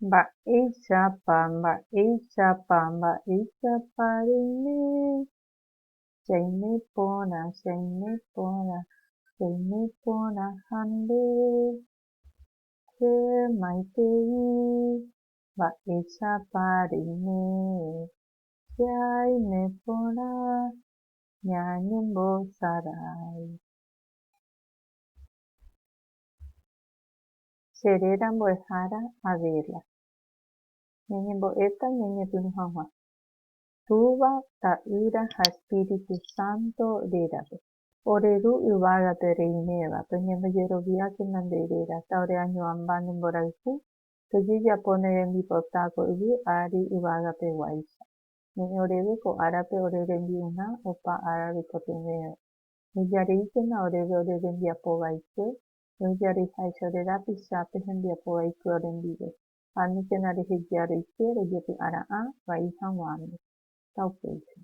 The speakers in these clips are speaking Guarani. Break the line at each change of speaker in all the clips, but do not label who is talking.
Mba'éichapa, mba'éichapa, mba'éichapa reime, chaime porã, chaime porã, chaime porã ha nde, che maitei, mba'éichapa reime, chaime porã, ñañembosarái. Che réra mbo'ehára Adela. Ñañembo'éta ñañepyrũ hag̃ua Túva, Ta'ýra ha Espíritu Santo rérape. Ore Ru yvágape reiméva, peñembojeroviákena nde réra, ta ore añoamba ne mborayhu, pejejapo ne rembipota ko yvy ári yvagapeguáicha. Ne'ẽ oréve ko árape ore rembi'urã opa ára roikotevẽva. Ejareíkena oréve ore rembiapo vaikue, Rojareháicha ore rapicha pe hembiapo vaiky orendive, ha aníkena reheja roike rojepy'ara'ã vai haguãme. Taupéicha.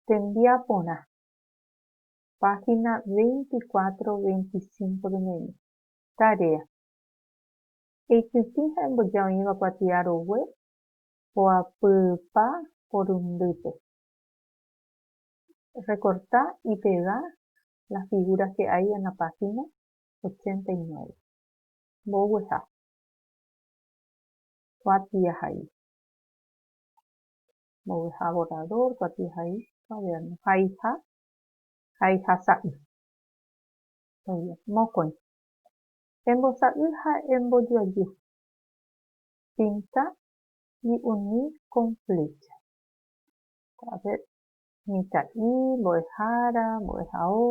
Tembia porã. Página 24, 25 pene'ẽ. Tarea. Eikytĩ ha emboja oĩva kuatia rogue poapypa porundýpe. Recorta y pega la figura que hay en la página 89. Mbogueha. Kuati ahai. Mbogueha borrador, kuati ahai, cuaderno. Haiha, haiha sa'i. Mokõi. Embosa'i ha embojoaju. Pinta y uni con flecha. A ver, Mitã'i, mbo'ehára, mbo'ehao,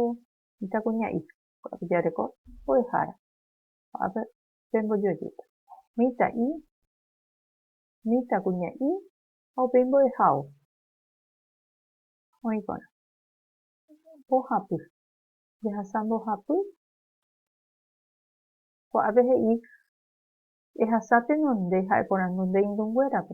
mitãkuña'i, ko'ápe jareko mbo'ehára, ko'ápe pembojoajéta, mitã'i, mitãkuña'i ha upéi mbo'ehao, oĩ porã, mbohapy, jahasa mbohapy, ko'ápe he'i, ehasa tenonde ha'eporandunde irũnguérape,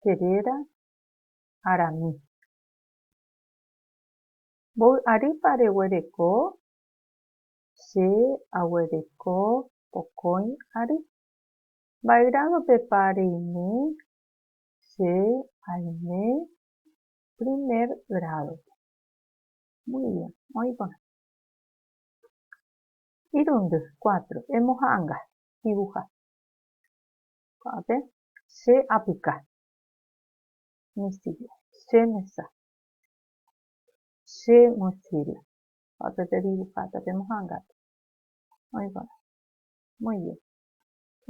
che réra Aramis. Mbovy'arýpa reguereko? Che aguereko pokõi ary. Mba'e grádopepa reime? Che aime primer grádope. Muy bien, oĩ porã. Irundy, cuatro. Emoha'anga, dibuja. Ko'ápe Che apuka. Mi silla. Che mesa. Che mochila. Ha pe pedibuja ta pe mohangata. Oĩ porã. Muy bien.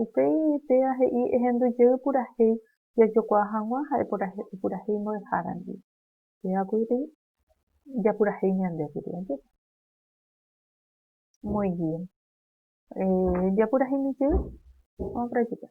Upéi péva he'i ehendu jey purahéi jajokuaa hag̃ua ha'e purahéi mbo'ehára ndive. Péva kuri japurahéi ñande kuri ajépa. Muy bien. Japurahéimi jey. Vamos practicar.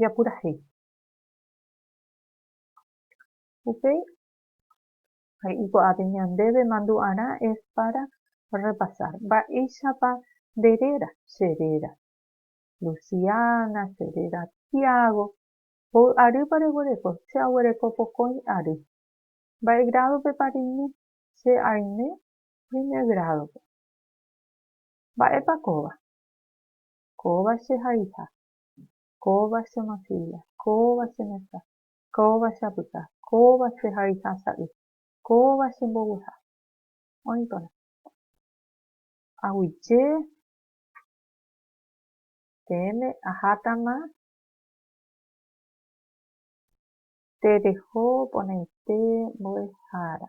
japurahéi. Upéi he'i ko'ápe ñandéve mandu'arã es pára rrepasár mba'éichapa nde réra, che réra Luciana, che réra Tiago, hoy'arýpa reguereko, che aguereko pokõi ary. Mba'e grádopepa reime, che aime primer grádope. Mba'épa kóva? Kóva che haiha, Kóva che mochíla, kóva che mesa, kóva che apyta, kóva che hariha sa'y, kóva che mbovyha. Oĩ porã. Aguyje peẽme ahátama tereho porãite mbo'ehára.